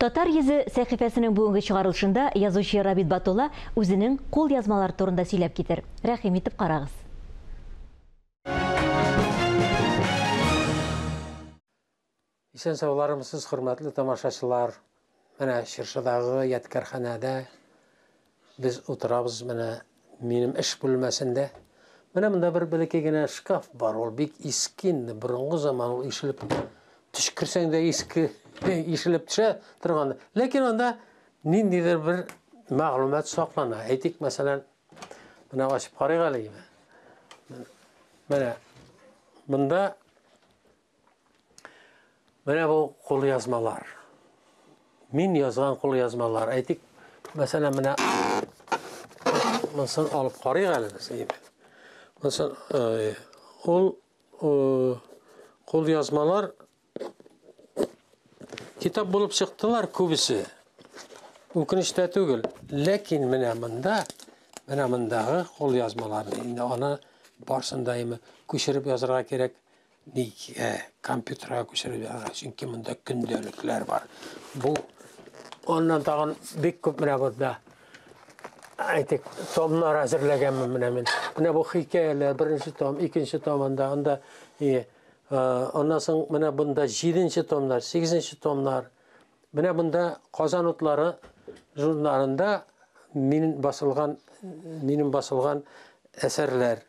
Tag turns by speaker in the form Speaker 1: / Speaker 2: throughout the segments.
Speaker 1: Татар йөзе сәхифәсенең бүгенге чыгарылышында язучы Рабит Батулла үзенең кулъязмалары турында сөйләп китер. Рәхим итеп карагыз.
Speaker 2: Исән сауларымсыз, хөрмәтле тамашачылар! Менә Чыршыдагы ядкәрханәдә Без утырабыз менә минем эш бүлмәсендә. Менә монда бер бәләкәй генә шкаф бар, ул бик иске инде, борынгы заман ул ишелеп төшкерсәң дә иске ишелеп төшә торган. Ләкин анда ниндидер бер мәгълүмат саклана. Әйтик, мәсәлән, менә ачып карыйк әле. Менә монда Менә бу кул язмалар. Мин язган кул язмалар. Әйтик, мәсәлән, менә монысын алып карыйк әле без. Монысын э, ул э, кул язмалар китап булып чыктылар күбесе. Үкенештә түгел. Ләкин менә монда, менә мондагы кул язмаларны инде аны барсын да көчереп язырга кирәк. Ник ә, компьютерга күчерелгән, чөнки монда көндәлекләр бар. Бу аннан тагын бик күп менә бозда. Әйтик, томнар әзерләгән менә мин. Менә бу хикәяләр, беренче том, икенче том анда, анда и аннан соң менә бунда 7нче томнар, 8нче томнар. Менә бунда Казан утлары журналында мин басылган, минем басылган әсәрләр.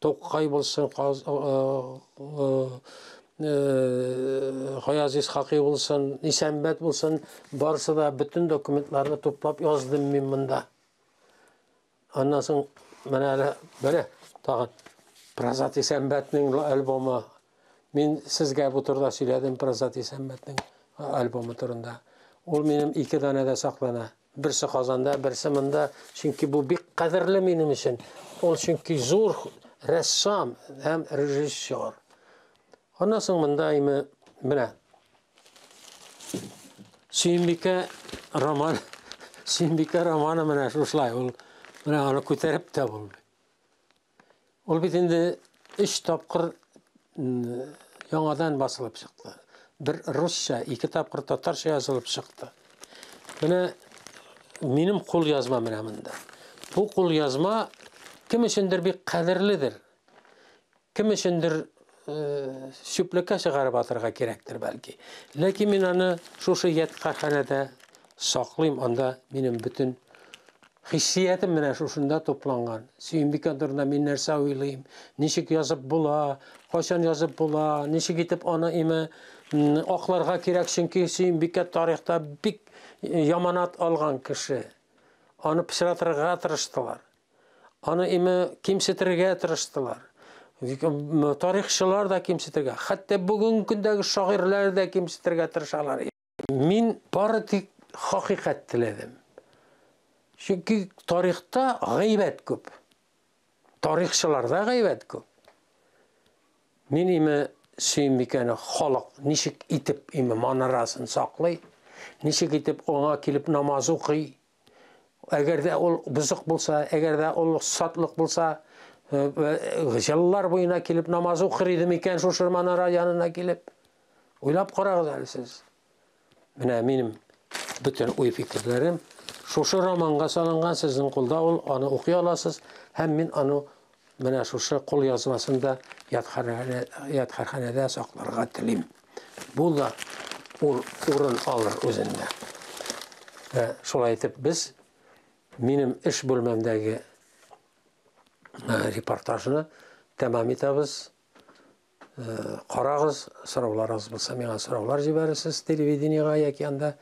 Speaker 2: Тукай булсын, Гаяз Исхакый булсын, Исәнбәт булсын, барысы да бөтен документларны туплап яздым мин монда. Аннан соң менә әле, менә тагын Празат Исәнбәтнең альбомы Мин сезгә бу турыда сөйләдем Прозат Исәммәтнең альбомы турында. Ул минем ике данәдә саклана. Берсе Казанда, берсе монда, чөнки бу бик кадерле минем өчен. Ул чөнки зур рәссам һәм режиссер. Аннан соң монда име менә. Сөембикә роман Сөембикә романы менә шушылай ул. Менә аны күтәреп тә булмый. Ул бит инде өч тапкыр яңадан басылып чыкты. Бер русча, ике тапкыр татарча язылып чыкты. Менә минем кул язма менә монда. Бу кул язма кем өчендер бик кадерледер. Кем өчендер чүплеккә чыгарып атырга кирәктер бәлки. Ләкин мин аны шушы ядкарханәдә саклыйм, анда минем бөтен хиссиятем менә шушында тупланган. Сөембикә турында мин нәрсә уйлыйм, ничек язып була, кайчан язып була, ничек итеп аны име акларга кирәк, чөнки Сөембикә тарихта бик яманат алган кеше. Аны пычратырга тырыштылар. Аны име кимсетергә тырыштылар. Тарихчылар да кимсетергә, хәтта бүгенге көндәге шагыйрьләр дә кимсетергә тырышалар. Мин бары тик хакыйкать теләдем. Чөнки тарихта гайбәт күп. Тарихчыларда гайбәт күп. Мин име Сөембикәне халык ничек итеп име манарасын саклый, ничек итеп аңа килеп намаз укый, Әгәр дә ул бозык булса, әгәр дә ул сатлык булса, э, э, җыллар буена килеп намаз укыр иде микән шушы манара янына килеп? Уйлап карагыз әле сез. Менә минем бөтен уй фикерләрем шушы романга салынган, сезнең кулда ул, аны укый аласыз, һәм мин аны Менә шушы кул язмасын да ядхарханәдә сакларга телим. Бу да урын алыр үзендә. Ә, шулай итеп без минем эш бүлмәмдәге репортажны тәмам итәбез. Карагыз, сорауларыгыз булса, миңа сораулар җибәрерсез телевидениегә яки анда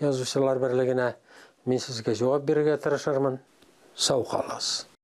Speaker 2: язучылар берлегенә. Мин сезгә җавап бирергә тырышырмын. Сау калыгыз.